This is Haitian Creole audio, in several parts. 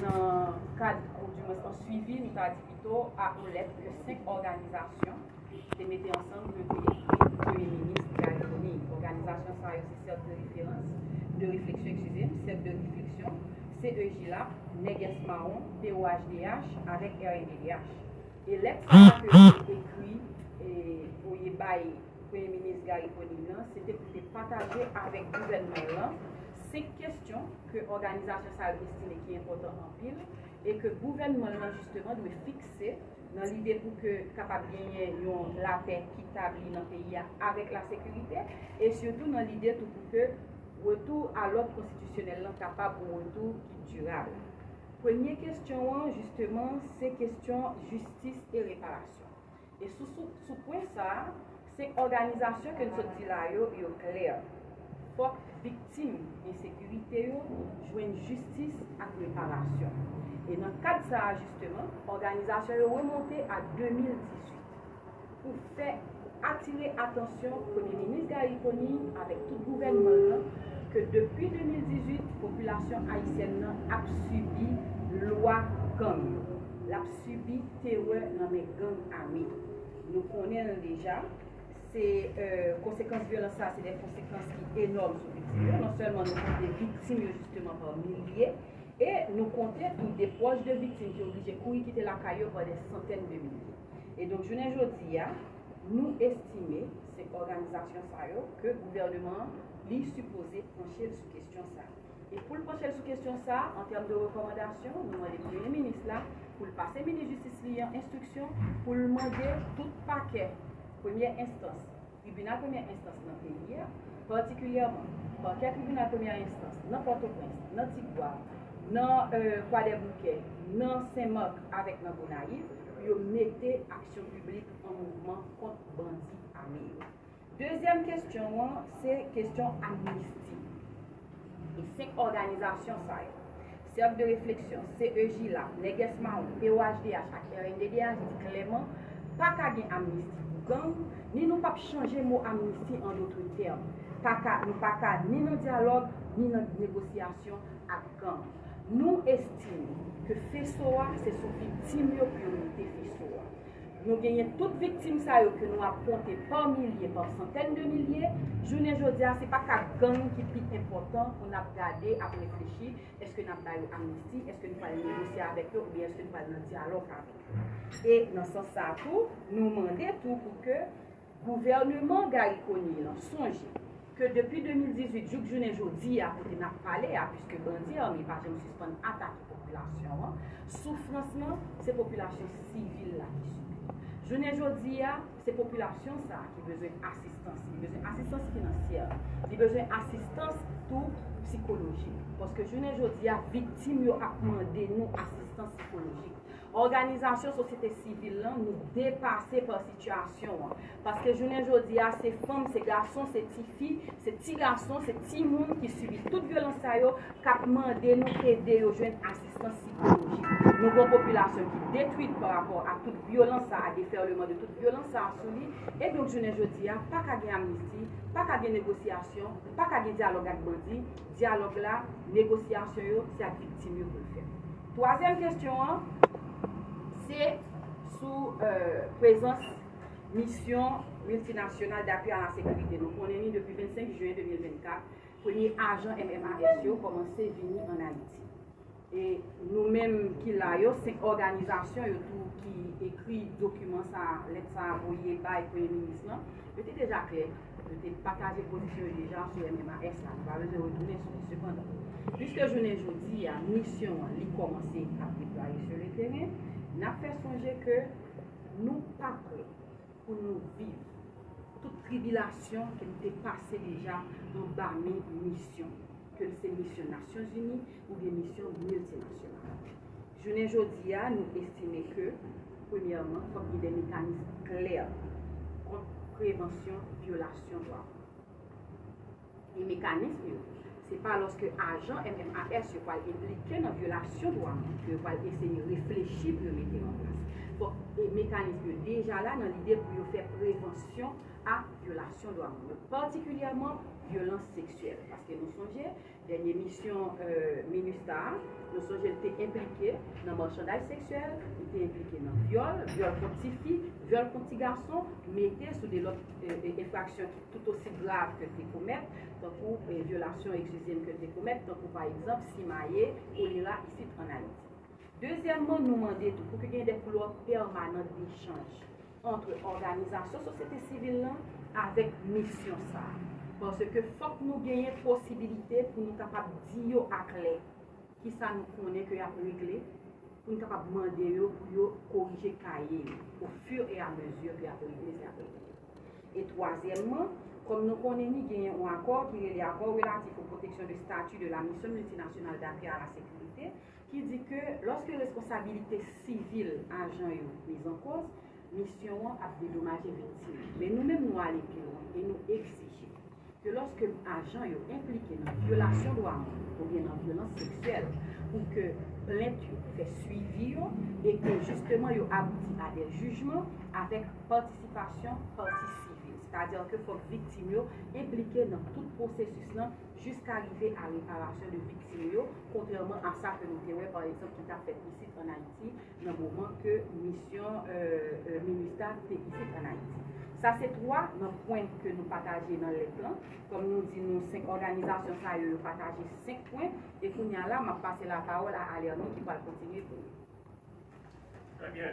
nan kad oudimwens an swivi nou ta di pito a olèt ke 5 òganizasyon te mete ansanm pou yo te ekri pou Premye Minis Garry Conille. Òganizasyon sa yo se Cercle de Référence, de Réflexion, ekskize m, Cercle de Réflexion, CEJILAP, Nègès Mawon, POHDH avèk rnddh. E lèt sa a ke yo te ekri voye bay. Premye Minis Garry Conille nan, se te pou l te pataje avèk gouvènman l lan 5 kesyon ke òganizasyon sa yo estime ki enpòtan anpil e ke gouvènman l lan jisteman dwe fikse nan lide pou ke kapab genyen yon lapè ki tabli nan peyi a avèk lasekirite e sitou nan lide tou pou ke retou a lòd konstitisyonèl lan kapab yon retou ki dirab. Premye kesyon an jisteman se kesyon jistis e reparasyon. E sou sou sou pwen sa, se òganizasyon ke n sot di la yo, yo klè. Fòk viktim ensekirite yo jwenn jistis ak reparasyon. E nan kad sa a jisteman, òganizasyon yo remonte a 2018 pou fè atire atansyon Premye Minis Garry Conille avèk tout gouvènman l lan ke depi 2018 popilasyon ayisyèn nan ap sibi lwa gang. L ap. sibi terè nan men gang ame. Nou konnen l deja, se konsekans vyolans sa a se de konsekans ki enòm sou viktim yo. Non sèlman nou konte viktim yo jisteman pa milye, e nou konte tou de pwòch de viktim ki oblije kouri kite lakay yo pa de santèn de milye. E donk jounen jodi a, nou estime se òganizasyon sa yo ke gouvèneman an li sipoze panche l sou kesyon sa a. E pou l panche l sou kesyon sa a, an tèm de rekòmandasyon, nou mande Premye Minis la pou l pase Minis Jistis li an enstriksyon pou l mande tout pakè premyè enstans, tribinal premyè enstans nan peyi a, patikilyèman, pakè tribinal premyè enstans nan Pòtoprens, nan Tigwav, nan Kwadèboukè, nan Sen Mak avèk nan Gonayiv, pou yo mete aksyon piblik an mouvman kont bandi ame yo. Dezyèm kestyon an se kestyon amnisti. E 5 òganizasyon sa yo, Cercle de Réflexion, CEJILA, Nègès Mawon, POHDH ak rnddh di klèman pa ka gen amnisti pou gang, ni nou pap chanje mo amnisti an dotre tèm. Pa ka, nou pa ka ni nan dyalòg, ni nan negosyasyon ak gang. Nou estime ke feso a se sou viktim yo pou yo mete feso a. Nou genyen tout viktim sa yo ke nou ap konte pa milye, pa santèn de milye, jounen jodi a se pa ka gang ki pi enpòtan pou n ap gade, ap reflechi, èske n ap ba yo amnisti, èske nou pral negosye avèk yo oubyen èske nou pral nan dyalòg avèk yo. E nan sans sa a tou, nou mande tou pou ke. Gouvèneman Garry Conille an sonje ke depi 2018 jouk jounen jodi a kote n ap pale a, puiske bandi ame pa janm sispann atake popilasyon an, soufrans lan se popilasyon sivil la ki sibi l. Jounen jodi a, se popilasyon sa a ki bezwen asistans, li bezwen asistans finansyè, li bezwen asistans tou psikolojik. Paske jounen jodi a, viktim yo ap mande nou asistans psikolojik. Òganizasyon sosyete sivil lan nou depase pa sitiyasyon an. Paske jounen jodi a se fanm, se gason, se tifi, se ti gason, se timoun ki sibi tout vyolans sa yo k ap mande nou ede yo jwenn asistans sikolojik. Nou gon popilasyon ki detwit pa rapò a tout vyolans sa a, defèleman de tout vyolans sa a sou li. E donk jounen jodi a pa ka gen amnisti, pa ka gen negosyasyon, pa ka gen dyalòg ak bandi. Dyalòg la, negosyasyon yo, se ak viktim yo pou l fèt. Twazyèm kesyon an, se sou prezans Misyon Miltinasyonal d'Appui à la Sécurité. Nou konnen ni depi 25 Juin 2024, premye ajan MMAS yo kòmanse vini an Ayiti. E nou menm ki la yo, se òganizasyon yo tou ki ekri dokiman sa a, lèt sa a voye bay Premye Minis lan. Yo te deja klè, yo te pataje pozisyon yo deja sou MMAS la. Nou pa bezwen retounen sou li. Sepandan, piske jounen jodi a, misyon an li kòmanse ap deplwaye sou le teren, n ap fè sonje ke nou pa prè. pou nou viv tout tribilasyon ke nou te pase deja anba men misyon, ke l se misyon Nasyonzini oubyen misyon miltinasyonal. Jounen jodi a, nou estime ke, premyèman, fòk gen de mekanism klè kont prevansyon vyolasyon dwa moun. E mekanism yo, se pa lòske ajan MMAS yo pral enplike nan vyolasyon dwa moun ke yo pral eseye reflechi pou yo mete yo anplas. Fòk e mekanism yo deja la nan lide pou yo fè prevansyon a vyolasyon dwa moun yo, patikilyèman vyolans seksyèl. Paske nou sonje, dènye misyon minustah a, nou sonje l te enplike nan marchandaj seksyèl, li te enplike nan vyòl, vyòl kont ti fi, vyòl kont ti gason, mete sou de lòt enfraksyon ki. tout osi grav ke l te komèt, tankou vyolasyon ekzijim ke l te komèt, tankou pa ekzanp simaye kolera isit ann Ayiti. Dezyèmman, nou mande tou pou ke gen de koulwa pèmanant dechanj antre òganizasyon sosyete sivil lan avèk misyon sa a, paske fòk nou genyen posibilite pou nou kapab di yo aklè ki sa nou konnen ke y ap regle, pou nou kapab mande yo pou yo korije kaye yo o fur et à mesure ke y ap regle sa y ap regle. E twazyèmman, kòm nou konnen ni genyen on akò ki rele Accord relatif au protection de statut de la mission multinationale d'appui à la sécurité ki di ke lòske responsabilite sivil ajan yo miz an kòz, misyon an ap dedomaje viktim. Men nou menm nou ale pi lwen e nou egzije. ke lòske ajan yo enplike nan vyolasyon dwa moun oubyen nan vyolans seksyèl pou ke plent yo fè swivi yo e ke jisteman yo abouti a de jijman avèk patisipasyon pati sivil, sètadi ke fòk viktim yo enplike nan tout pwosesis lan jiska rive a reparasyon de viktim yo, kontrèman a sa ke nou te wè pa egzanp ki ta fèt isit an Ayiti nan moman ke misyon Minustah te isit an Ayiti. Sa se 3 nan pwen ke nou pataje nan lèt lan. Kòm nou di nou 5 òganizasyon sa yo, yo pataje 5 pwen. E kounye a la, m ap pase lapawòl a Alerno ki pral kontinye pou nou. Trè byen.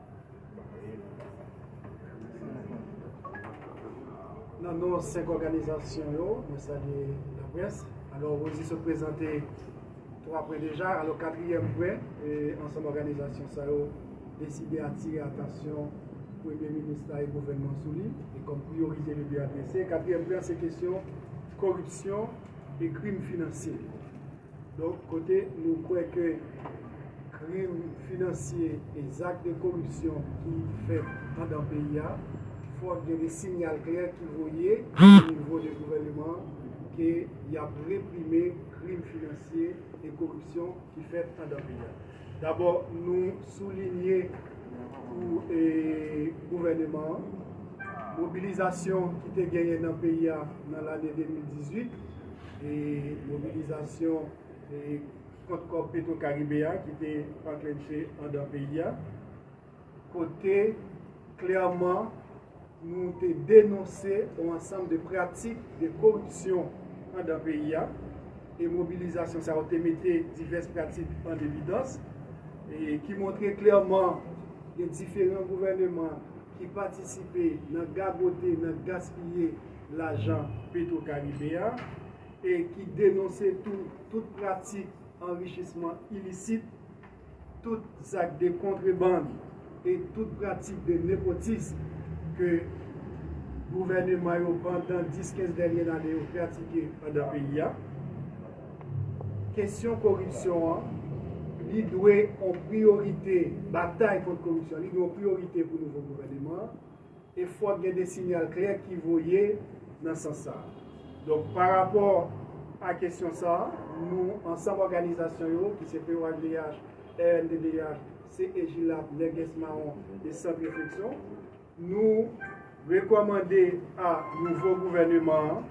Nan non 5 òganizasyon yo, mwen salye laprès. Alò, Rosie sot prezante 3 pwen deja. Alò, katriyèm pwen, ansanm òganizasyon sa yo deside atire atansyon Premye Minis la e gouvènman sou li e kòm priyorite li vle adrese. Katriyèm pwen an se kesyon koripsyon e krim finansye. Donk, kote nou kwè ke krim finansye e zak de koripsyon ki fèt andan peyi a, fòk gen de sinyal klè ki voye onivo de gouvèneman an ke y ap reprime krim finansye e koripsyon ki fèt andan peyi a. Dabò, nou soulinye pou gouvèneman an, mobilizasyon ki te genyen nan peyi a nan lane 2018, e mobilizasyon e kont kòb petro karibe a ki te anklenche andan peyi a kote klèman nou te denonse ou ansanm de pratik de koripsyon andan peyi a e mobilizasyon sa ou te mete divès pratik an evidans e ki montre klèman gen diferan gouvèneman ki patisipe nan gagote, nan gaspiye lajan Petro Karibe a e ki denonse tou tout pratik anrichisman ilisit, tout zak de kontrebann e tout pratik de nepotism ke gouvèneman yo pandan 10, 15 dènye lane yo pratike andan peyi a. Kesyon koripsyon an, li dwe on priyorite, batay kont koripsyon, li dwe on priyorite pou nouvo gouvèneman an. e fòk gen de sinyal klè ki voye nan sans sa a. Donk, pa rapò a kesyon sa a, nou, ansanm òganizasyon yo, ki se POHDH, rnddh, CEJILAB, Nègès Mawon e Sant Refleksyon, nou rekòmande a nouvo gouvèneman an,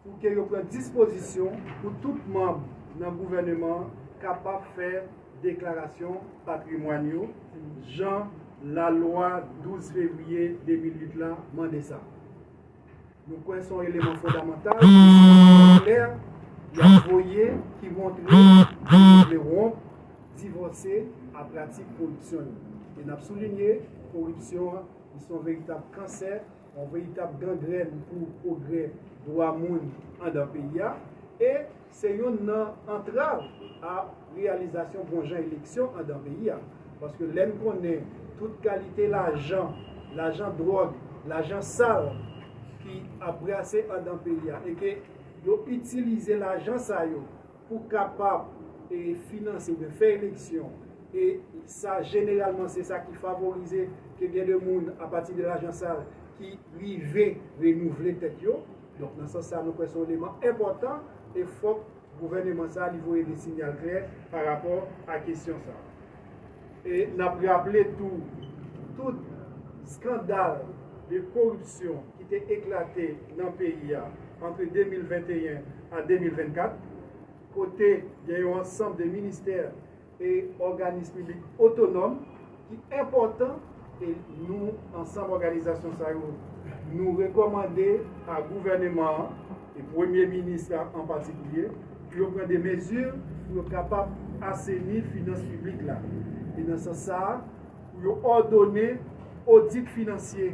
pou ke yo pran dispozisyon pou tout manb nan gouvèneman an kapab fè deklarasyon patrimwàn yo jan lalwa 12 fevriye 2008 la mande sa. Nou kwè se yon eleman fondamantal e se yon siyal klè y ap voye ki montre ke yo vle wonp, divòse a pratik koripsyon yo. E n ap soulinye, koripsyon an se yon veritab kansè. Yon veritab gangrèn pou pwogrè dwa moun andan peyi a e se yonn nan antrav a reyalizasyon bon jan eleksyon andan peyi a. Paske lè n konnen tout kalite lajan, lajan dwòg, lajan sal ki ap brase andan peyi a e ke yo itilize lajan sa yo pou kapab finanse oubyen fè eleksyon e sa jeneralman se sa ki favorize ke gen de moun a pati de lajan sal ki rive renouvle tèt yo. Donk nan sans sa nou kwè se yon eleman enpòtan e fòk gouvèneman sa li voye de sinyal klè pa rapò a kesyon sa. E n ap raple tou, tout skandal de koripsyon ki te eklate nan peyi a antre 2021 a 2024, kote gen yon ansanm de ministè e òganis piblik otonòm ki enpòtan, E nou, ansanm òganizasyon sa yo, nou rekòmande a gouvèneman an, e premye minis la an patikulye, pou yo pran de mezi pou yo kapab aseni finans piblik la. E nan sans sa a, pou yo òdone odit finansye.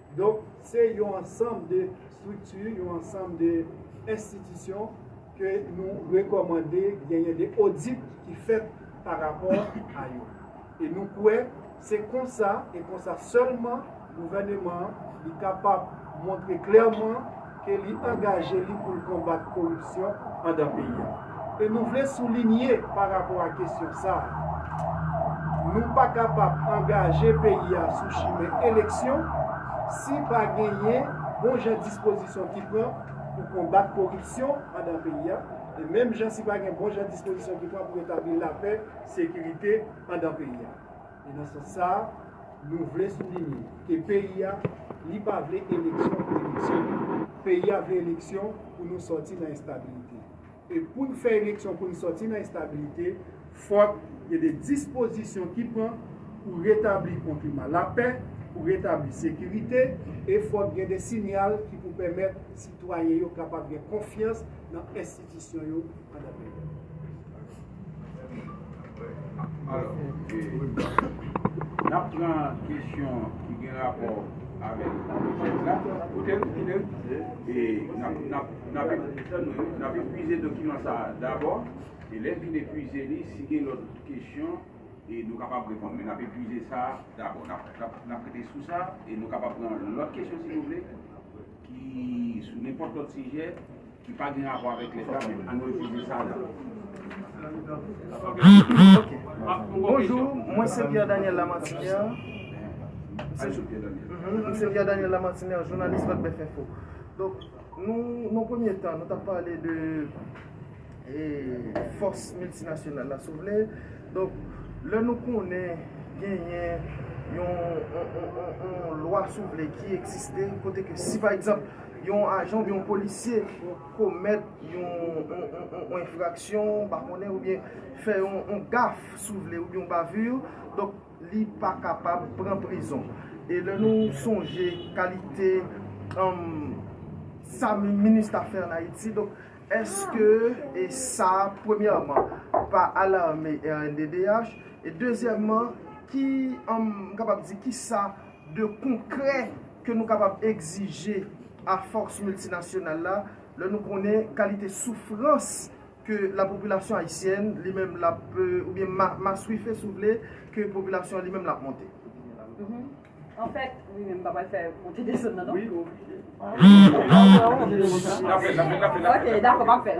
Donk, se yon ansanm de estrikti, yon ansanm de enstitisyon ke nou rekòmande genyen de odit ki fèt pa rapò a yo. E nou kwè se konsa e konsa sèlman gouvèneman an li kapab montre klèman, ke li angaje li pou l konbat koripsyon andan peyi a. E nou vle soulinye pa rapò a kesyon sa a, nou pa kapab angaje peyi a sou chimen eleksyon si pa genyen bon jan dispozisyon ki pran pou konbat koripsyon andan peyi a, e menm jan si pa gen bon jan dispozisyon ki pran pou retabli lapè, sekirite andan peyi a. E nan sans sa, nou vle soulinye ke peyi a, li pa vle eleksyon pou eleksyon. Peyi a vle eleksyon pou nou sòti nan enstabilite. E pou n fè eleksyon pou n sòti nan enstabilite, fòk gen de dispozisyon ki pran pou retabli yon klima lapè, pou retabli sekirite, e fòk gen de sinyal ki pou pèmèt sitwayen yo kapab gen konfyans nan enstitisyon. Disyon yo pandan peryòd. Alò, n ap pran kesyon ki gen rapò avèk tèks la. Koute m, koute m. E n ap epuize dokiman sa a dabò. E lè n fin epuize li, si gen lòt kesyon, nou kapab reponn. Men n ap epuize sa a dabò. N ap rete sou sa e nou kapab pran lòt kesyon si nou vle ki sou nenpòt lòt sijè. Ki pa gen rapò avèk leta men an refize sa la. Bonjour mwen se Pierre Daniel Lamartinière mwen se Pierre Daniel Lamartinière journaliste Vodbef info donk nou nan premye tan nou tap pale de fòs miltinasyonal la si w vle donk lè nou konnen genyen yon yon lwa si w vle ki egziste kote ke si pa egzanp Yon ajan oubyen yon polisye komèt yon enfraksyon, ou pa konnen, oubyen fè yon gaf, si w vle, oubyen yon bavure, donk li pa kapab pran prizon. E lè nou sonje kalite sa Minustah fè an Ayiti, donk èske e sa, premyèman, pa alarme rnddh? E dezyèmman, ki, m kapab di, ki sa de konkrè ke nou kapab egzije a fòs miltinasyonal la, lè nou konnen kalite soufrans ke lapopilasyon ayisyèn li menm l ap, oubyen maswife si w vle, ke popilasyon an li menm l ap monte. Anfèt, wi men m pa pral fè monte desann nan non. Ok, dakò, m ap fè l.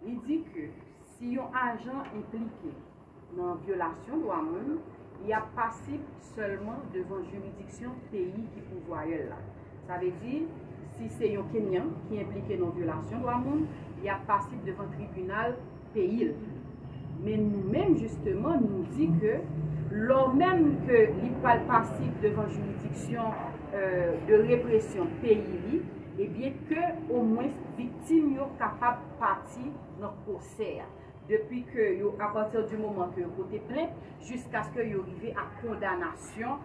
Li di ke si yon ajan enplike nan vyolasyon dwa moun, li ap pasib sèlman devan jiridiksyon peyi ki pouvwayè l la. Sa vle di, si se yon Kenyan ki enplike nan vyolasyon dwa moun, li ap pasib devan tribinal peyi l. Men nou menm jisteman nou di ke lò menm ke li pral pasib devan jiridiksyon de represyon peyi li, ebyen ke omwens viktim. Viktim yo kapab pati nan pwosè a, depi ke yo, a pati di moman ke yo pote plent, jiskaske yo rive a kondanasyon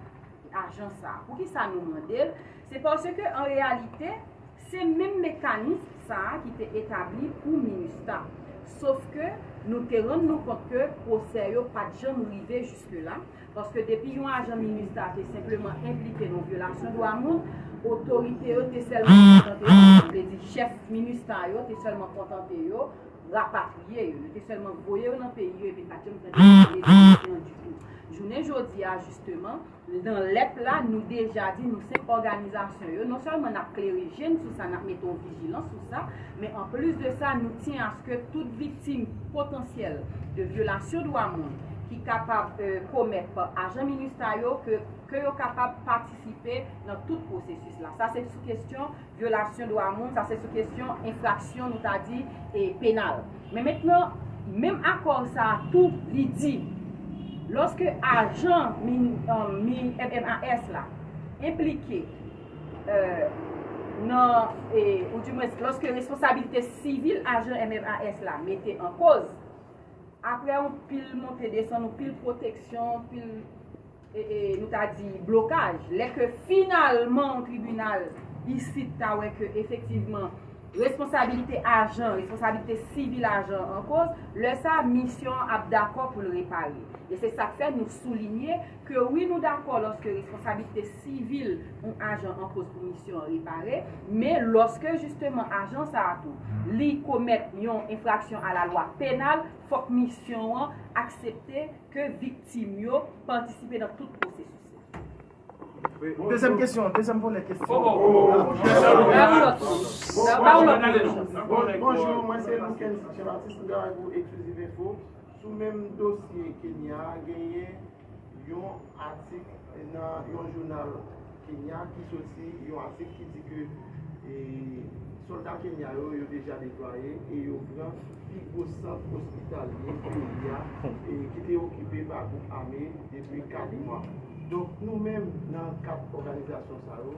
ajan sa a. Pou ki sa nou mande l? Se paske an reyalite, se menm mekanis sa a ki te etabli pou minustah. Sofke nou te rann nou kont ke pwosè yo pa t janm rive jiske la, Paske depi yon ajan minustah te senpleman enplike nan vyolasyon dwa moun, otorite yo te sèlman kontante yo, sa vle di chèf minustah yo te sèlman kontante yo rapatriye yo. Yo te sèlman voye yo nan peyi yo epi pa janm tande yo pale de dosye an ditou. Jounen jodi a jisteman, nan lèt la nou deja di nou se òganizasyon yo, non sèlman n ap klere je n sou sa, n ap mete yon vijilans sou sa, Men an plis de sa, nou tyen aske tout viktim potansyèl de vyolasyon dwa moun ki kapab komèt pa ajan minustah yo ke yo kapab patisipe nan tout pwosesis la. Sa se sou kesyon vyolasyon dwa moun, sa se sou kesyon enfraksyon nou ta di penal. Men mentnan, menm akò sa a tou li di lòske ajan MNMAS la enplike, nan, ou di mwens lòske responsabilite sivil ajan MMAS la mete an koz, apre yon pil monte desann, yon pil pwoteksyon, yon pil, nou ta di, blokaj, lè ke finalman yon tribinal isit ta wè ke efektivman responsabilite ajan, responsabilite sivil ajan an koz, lè sa, misyon an ap dakò pou l repare. E se sa k fè nou soulinye, Ke wi nou dakò lòske responsablite sivil yon ajan enpoz pou misyon an repare, men lòske jisteman ajan sa a tou, li komèt yon enfraksyon a la lwa penal, fòk misyon an aksepte ke viktim yo patisipe nan tout pwosesis la. Dezyèm kesyon, dezyèm volè kesyon an. Bonjou, mwen se Loukendy Jean-Baptiste, mwen travay pou Exclusive Info. Sou menm dosye Kenya a, genyen yon atik nan yon jounal Kenya ki soti, yon atik ki di ke sòlda Kenya yo, yo deja deplwaye e yo pran pi gwo sant ospitalye peyi a ki te okipe pa gwoup ame depi 4 mwa. Donk nou menm nan 4 òganizasyon sa yo,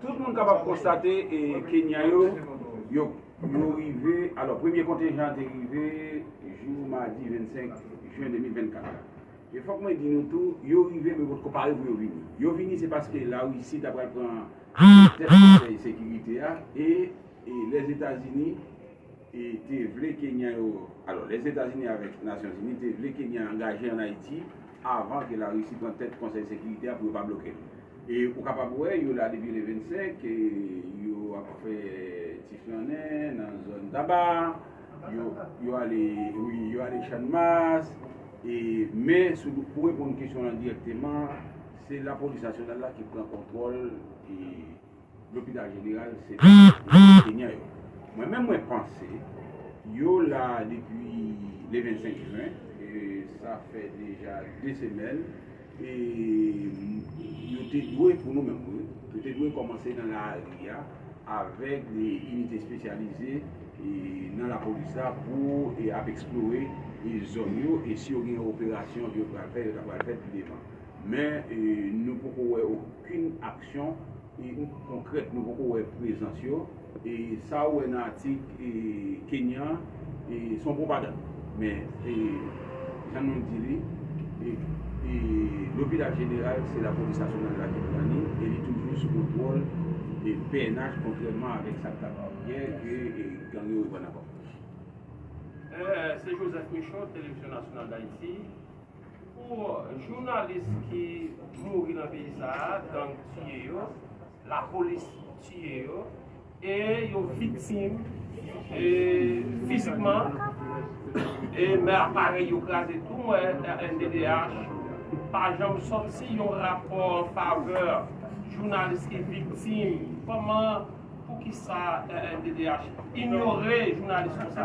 Tout moun kapab konstate Kenyan yo, yo rive, alò premye kontenjan an te rive jou madi 25 jen 2024 la. E fòk mwen di nou tou, yo rive men potko pare pou yo vini. Yo vini se paske Larisi ta pral pran tèt konsèy sekirite a e Lèzetazini te vle Kenyan yo, alò Lèzetazini avèk Nasyonzini te vle Kenyan angaje an Ayiti avan ke Larisi pran tèt konsèy sekirite a pou yo pa bloke l. E ou kapab wè yo la depi le 25, yo ap fè ti flannen nan zòn Taba, yo ale wi, yo ale Channmas, e men sou pou reponn kesyon w lan dirèkteman, se lapolis nasyonal la ki pran kontwòl e. Lopital jeneral se pa pou kenyan yo. Mwen menm mwen panse yo la depi le 25 jwen e sa fè deja 2 semèn e yo te dwe pou nou menm wi, yo te dwe kòmanse nan lari a avèk inite espesyalize nan lapolis la pou ap eksplore zòn yo e si yo gen operasyon yo pral fè yo ta pral fè pi devan. Men nou poko wè okenn aksyon konkrèt, nou poko wè prezans yo. Sa ou wè nan atik Kenyan se yon pwopagann. Men jan nou di li, lopital jeneral se lapolis nasyonal la ki pran li e li toujou sou kontwòl pnh kontrèman avèk sa k t ap yè ke gang yo reprann ankò. Se Joseph Michaud, Televizyon Nasyonal Dayiti. Pou jounalis ki mouri nan peyi sa a, gang tiye yo, lapolis tiye yo, e yo viktim fizikman, e men aparèy yo kraze tou, mwen rnddh pa janm sòti yon rapò an favè jounalis ki viktim, kòman, poukisa rnddh inyore jounalis konsa?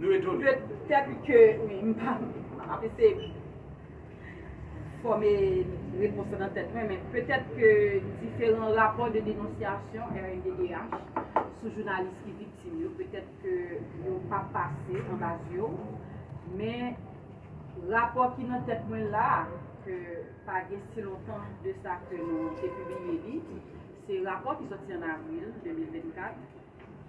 Petèt ke wi, m pa, m ap eseye fòme repons lan nan tèt mwen, men petèt ke diferan rapò de denonsyasyon rnddh sou jounalis ki viktim yo, petèt ke yo pa pase anba zye w, men rapò ki nan tèt mwen la a, ke pa gen si lontan de sa ke nou te pibliye li, se rapò ki sòti an avril 2024,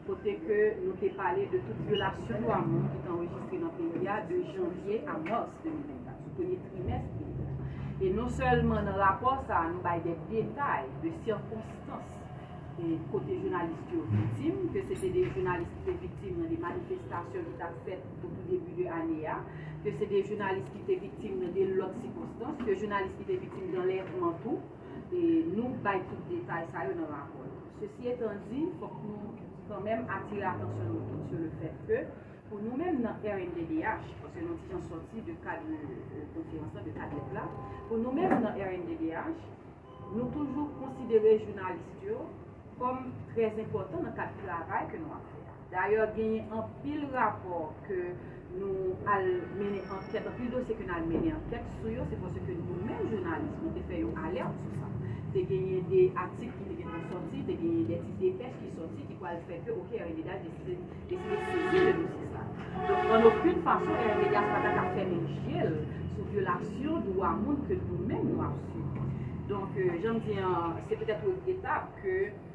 kote ke nou te pale de tout vyolasyon dwa moun ki te anrejistre nan peyi a de janvye a mas 2024, sou premye trimès peyi a. E non sèlman nan rapò sa a nou bay de detay de sikonstans kote jounalis yo viktim, ke se te de jounalis ki te viktim nan de manifestasyon ki t ap fèt o tou debi de ane a, ke se de jounalis ki te viktim nan de lòt sikonstans, ke jounalis ki te viktim danlèvman tou, nou bay tout detay sa yo nan rapò nou. Sesi etan di, fòk nou kan menm atire atansyon nou tout sou le fèt ke pou nou menm nan rnddh, paske nou ti jan sòti de kad konferans la, de kad lèt la, pou nou menm nan rnddh, nou toujou konsidere jounalist yo kòm trèzenpòtan nan kad travay ke nou ap fè a. Dayè genyen anpil rapò ke nou al mennen ankèt, anpil dosye ke nou al mennen ankèt sou yo, se paske nou menm jounalis nou te fè yon alèrt sou sa. Te genyen de atik ki te gentan sòti, te genyen de ti depèch ki sòti ki pwal fè ke ok RMDA deside deside sezi de dosye sa. Donk an okin fason RMDA pa ta ka fèmen je l sou vyolasyon dwa moun ke nou menm nou ap sibi. Donk jan m di an se petèt regretab ke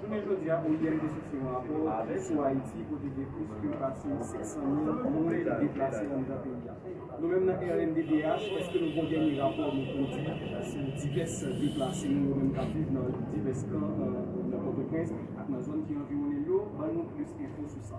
Jounen jodi a, oim te soti yon rapò sou Ayiti kote gen plis ke pase 500 mil moun ki deplase anndan peyi a. Nou menm nan rnddh, èske nou gen yon dènye rapò nou pwodui sou divès deplase nou yo menm k ap viv nan divès kan nan Pòtoprens ak nan zòn ki anviwonnen l yo? Ban nou plis enfo sou sa.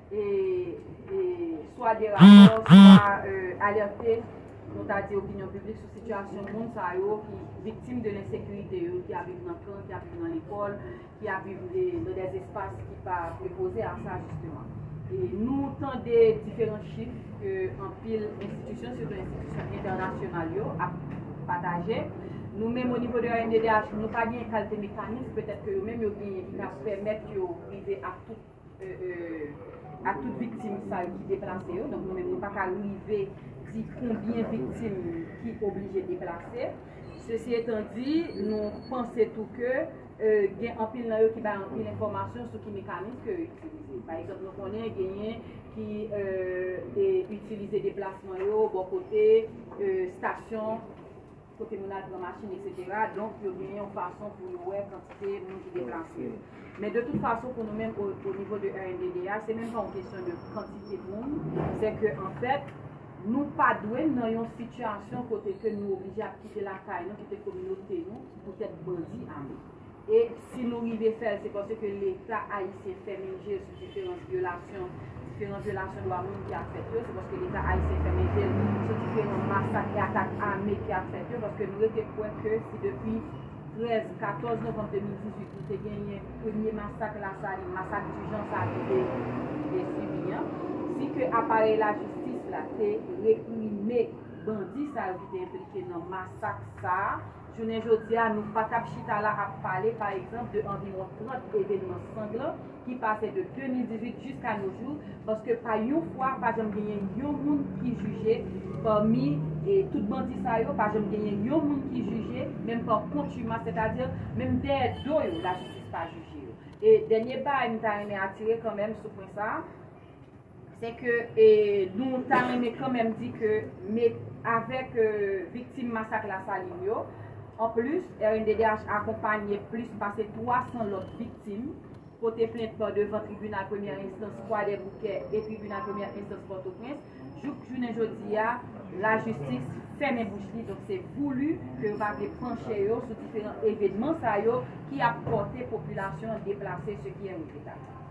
swa de rapò, swa alerte, nou ta di opinyon piblik sou sitiyasyon moun sa yo ki viktim de lensekirite yo, ki ap viv nan kan, ki ap viv nan lekòl, ki ap viv nan dè espas ki pa prepoze a sa jisteman. Nou tande diferan chif ke anpil enstitisyon, sitou enstitisyon entènasyonal yo ap pataje. Nou menm o nivo de ANDDH, nou pa gen kalte mekanism petèt ke yo menm yo genyen ki ka pèmèt yo rive ak tout. ak tout viktim sa yo ki deplase yo, donk nou menm nou pa ka rive di konbyen viktim ki oblije deplase. Sesi etan di, nou panse tou ke gen anpil nan yo ki bay anpil enfòmasyon sou ki mekanis ke yo itilize. Pa egzanp, nou konnen genyen ki itilize deplasman yo bò kote stasyon. kote moun al pran machin eksetera, donk yo gen yon fason pou yo wè kantite moun ki deplase yo. Men de tout fason pou nou menm o nivo de RNDDH, se menm pa yon kesyon de kantite moun, se ke anfèt, nou pa dwe nan yon sitiyasyon kote ke nou oblije ap kite lakay nou, kite kominote nou, poutèt bandi ame. E si nou rive fè l, se paske Leta ayisyen fèmen je l sou diferans vyolasyon, diferan vyolasyon dwa moun ki ap fèt yo, se paske Leta ayisyen fèmen je l sou diferan masak e atak ame ki ap fèt yo, paske nou rete kwè ke si depi 13, 14 novanm 2018 nou te genyen premye masak Lasalin, masak Dijan sa a nou te sibi an, si ke aparèy lajistis la te reprime bandi sa yo ki te enplike nan masak sa a, Jounen jodi a, nou pa t ap chita la ap pale, pa egzanp, de anviwon 30 evenman sanglan ki pase de 2018 jiska no jou, paske pa yon fwa pa janm genyen yon moun ki jije pami tout bandi sa yo, pa janm genyen yon moun ki jije, menm pa kontimas, sètadi menm dèyè do yo lajistis pa jije yo. E dènye bay m ta renmen atire kanmenm sou pwen sa a, Se ke nou ta renmen kanmenm di ke met avèk viktim masak Lasalin yo, anplis, rnddh akonpanye plis pase 300 lòt viktim pote plent nan devan tribinal premyè enstans Kwadèboukè e tribinal premyè enstans Pòtoprens, jouk jounen jodi a, lajistis fèmen bouch li. Donk se voulu ke yo pa vle panche yo sou diferan evenman sa yo ki ap pòte popilasyon an deplase, ce qui est regrettable.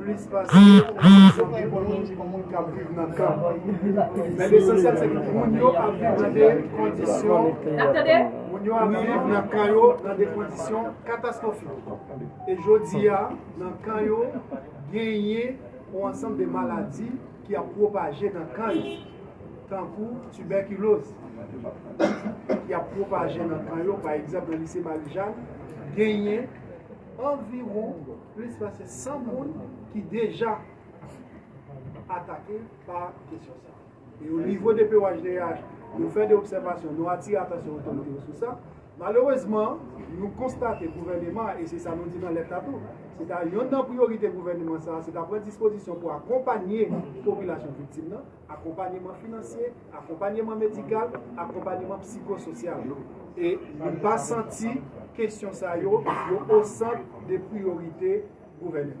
plis pase kondisyon ki bon pou moun k ap viv nan kan. Men lesansyèl se ke moun yo ap viv nan de kondisyon, moun yo ap viv nan kan yo nan de kondisyon katastwofik. E jodi a, nan kan yo, genyen yon ansanm de maladi ki ap pwopaje nan kan yo. Tankou tibèkiloz ki ap pwopaje nan kan yo. Pa egzanp, nan lise Marijàn, genyen anviwon. Plis pase 100 moun ki deja atake pa kesyon sa. E o nivo DPOHDH, nou fè de obsèvasyon, nou atire atansyon otorite yo sou sa. Malerezman, nou konstate gouvèneman an, e se sa nou di nan lèt la tou, se ta yonn nan priyorite gouvèneman sa a, se ta pran dispozisyon pou akonpanye popilasyon viktim nan. akonpanyeman finansye, akonpanyeman medikal, akonpanyeman psikososyal. E nou pa santi kesyon sa yo yo osant de priyorite gouvèneman.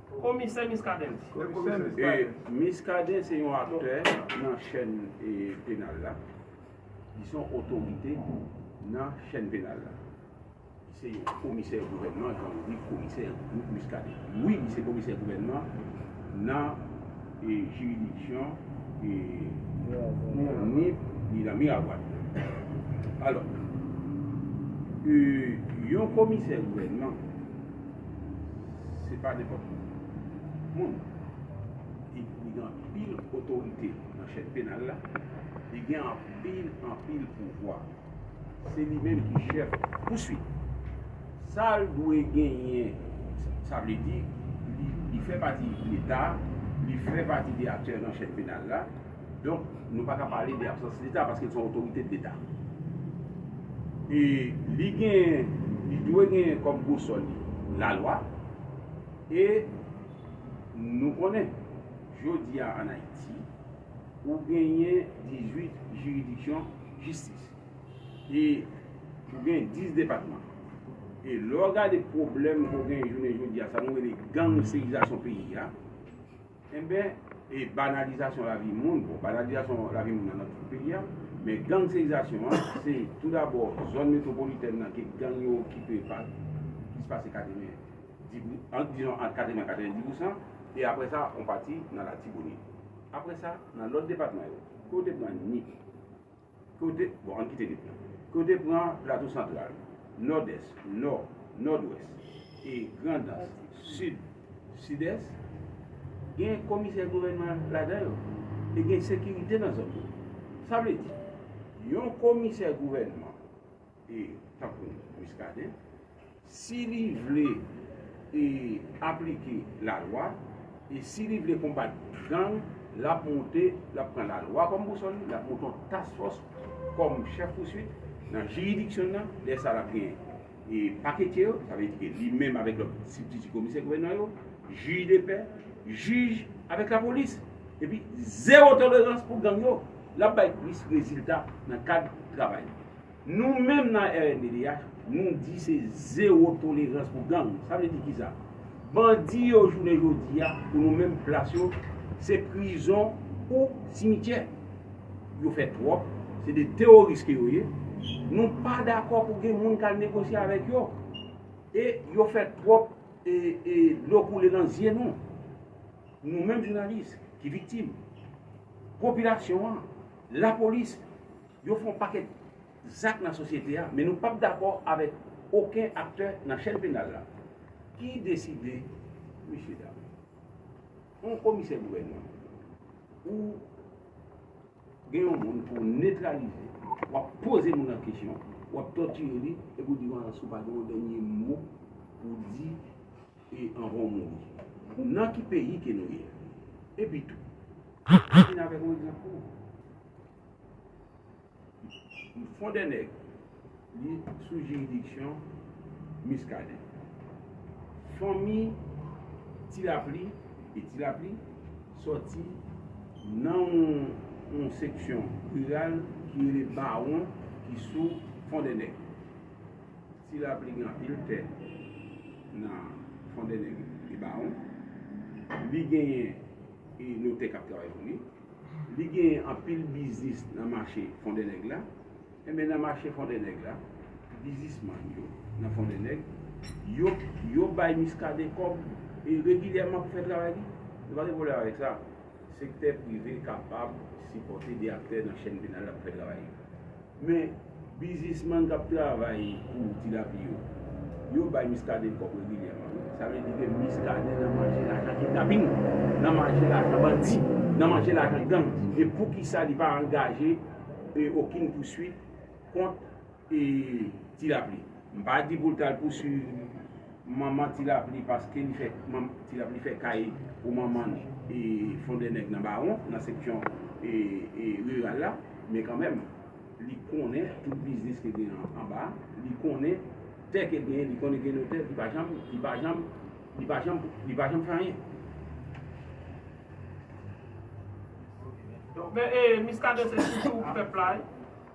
Komisè Miskaden di. Miskaden se yon aktè nan chèn penal la. Li se yon otorite nan chèn penal la. Li se yon komisè gouvènman jan ou di komisè Luc Muscadin. Wi, li se komisè gouvènman nan jiridiksyon Nip ni nan Miragwàn. Alò, yon komisè gouvènman. Se pa nenpòt moun. Li gen anpil otorite nan chèn penal la. Li gen anpil, anpil pouvwa. Se li menm ki chèf pouswit. Sa l dwe genyen, sa vle di li fè pati Leta, li fè pati de aktè nan chèn penal la. Donk, nou pa ka pale de absans Leta paske l se yon otorite de Leta. E li genyen, li dwe genyen kòm bousòl li lalwa. E nou konnen, jodi a ann Ayiti, ou genyen 18 jiridiksyon jistis. E ou genyen 10 depatman. E lè w gade pwoblèm ke w genyen jounen jodi a, sa nou rele gangsterizasyon peyi a, Enben, e banalizasyon lavi moun, bon banalizasyon lavi moun nan nan tout peyi a, men gangsterizasyon an, se tou dabò zòn metwopolitèn nan ke gang yo okipe pa plis pase 90 pou, ant dizon ant 80 a 90 pousan, e apre sa on pati nan Latibonit. Apre sa, nan lòt depatman yo, kote w te pran Nip. Kote, bon ann kite nip lan. Kote pran Plato Santral, Nòdès, Nò, Nòdwès, e Grandans, Sid, Sidès, gen komisè gouvènman ladan yo e gen sekirite nan zòn yo. Sa vle di, yon komisè gouvènman e tankou Muscadin si li vle e aplike la lwa e si li vle konbat gang lap moute lap pran la lwa kòm bousòl li lap moute yon task force kòm chèf pouswit nan jiridiksyon nan lè sa lap gen e paketye yo sa vle di ke li menm avèk lòt sibtiti komisè gouvènman yo jij de pè jij avèk la polis epi zero tolerans pou gang yo lap bay plis rezilta nan kad travay li. Nou menm nan rnddh nou di se zewo tolerans pou gang. Sa vle di kisa? Bandi yo jounen jodi a pou nou menm plas yo se prizon ou simityè. Yo fè twòp, se 2 teworis ke yo ye. Nou pa dakò pou gen moun kal negosye avèk yo. E yo fè twòp e dlo koule nan zye nou. Nou menm jounalis ki viktim. Popilasyon an, lapolis. Yo fè yon pakèt zak nan sosyete a, men nou pap dakò avèk oken aktè nan chèn penal la. Ki deside, mesye dam? Yon komisè gouvènman, ou gen yon moun pou w netralize, w ap poze moun lan kesyon, w ap tòtire li, epi w di moun lan si w pa gen yon dènye mo pou w di anvan w mouri. Nan ki peyi ke nou ye? Epitou, mwen vin avèk yon egzanp pou ou. Fon dè nèg li sou jiridiksyon Miskaden. Fanmi Ti Lapli e Ti Lapli sòti nan yon seksyon riral ki rele Bawon ki sou Fon dè nèg. Ti Lapli gen anpil tè nan Fon dè nèg e Bawon. Li genyen notè k ap travay pou li. Li genyen anpil biznis nan mache Fondènèg la. Enben nan mache Fondènèg la, bizismann yo nan Fondènèg, yo yo bay Miskaden kòb e regilyèman pou fè travay li. Nou pa gen pwoblèm avèk sa. Sektè prive kapab sipòte 2 aktè nan chèn penal la pou fè travay li. Men bizisman kap travay pou tilapi yo, yo bay Muscadin kòb regilyèman wi. Sa vle di ke Muscadin nan manje lajan kidnaping, nan manje lajan bandi, nan manje lajan gang. E poukisa li pa angaje okin pouswit kont tilapi. M pa di pou l t al pouswiv Manman ti lapli paske li fè manman ti lapli fè kay pou manman l e fon de nèg nan bawon nan seksyon e riral la men kanmèm li konnen tout biznis ke gen anba a li konnen tè ke gen li konnen gen notè ki pa janm ki pa janm li pa janm li pa janm fè anyen. Men e miskaden se sitou pèp la wi.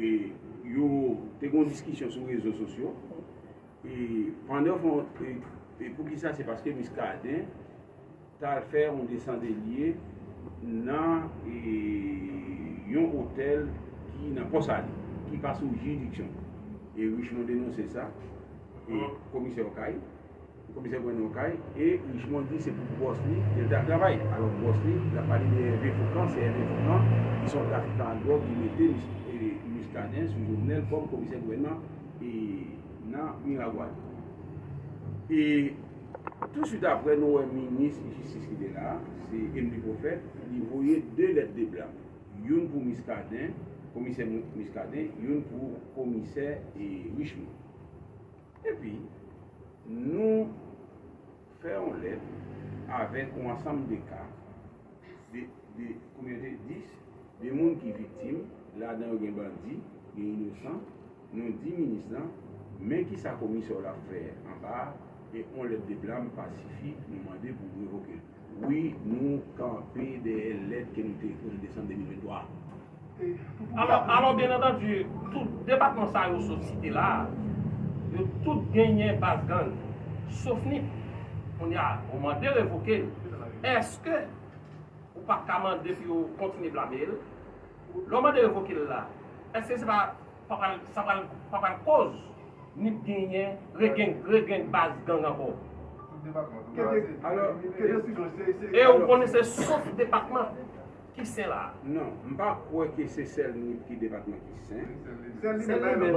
E yo te gen yon diskisyon sou rezo sosyo. E pandan fon, e pou ki sa se paske Muscadin ta al fè yon desandelye nan yon otèl ki nan Pò Sali, ki pa sou jiridiksyon. E Richemond denonse sa, e komisè Okay. Komisè pran yon kay e Richemond di se pou bòs li li te ap travay. Alò bòs li, n ap pale de Ève Foukan, se Ève Foukan ki se yon trafikan ak dwòg ki mete Muscadin sou Jovenel kòm komisè gouvènman nan Miragwàn. E tou swit aprè nou wè minis jistis ki te la a, se Emely Prophète, li voye 2 lèt de blan, youn pou Muscadin, komisè Muscadin, youn pou komisè Richemond. Epi, nou fè yon lèt avèk yon ansanm de ka, de, konbyen yo te, 10, de moun ki viktim, ladan yo gen bandi, gen inosan, nou di minis lan, men ki sa komisè w la fè anba a, e yon lèt de blam pa sifi, nou mande pou revoke l. Wi nou kanpe dèyè lèt ke nou te ekri an desanm 2023 a. Alò, byen antandu, tout depatman sa yo sot site la a, yo tout genyen baz gang, sof Nip. Kounye a, ou mande l revoke l, èske ou pa t ka mande pou yo kontinye blame l? Lè w mande revoke l la, èske se pa. Sa pral koz nip genyen regeng baz gang anko. E ou konnen se sof depatman ki sen la. Non, m pa kwè ke se sèl nip ki depatman ki sen. Sèl li menm.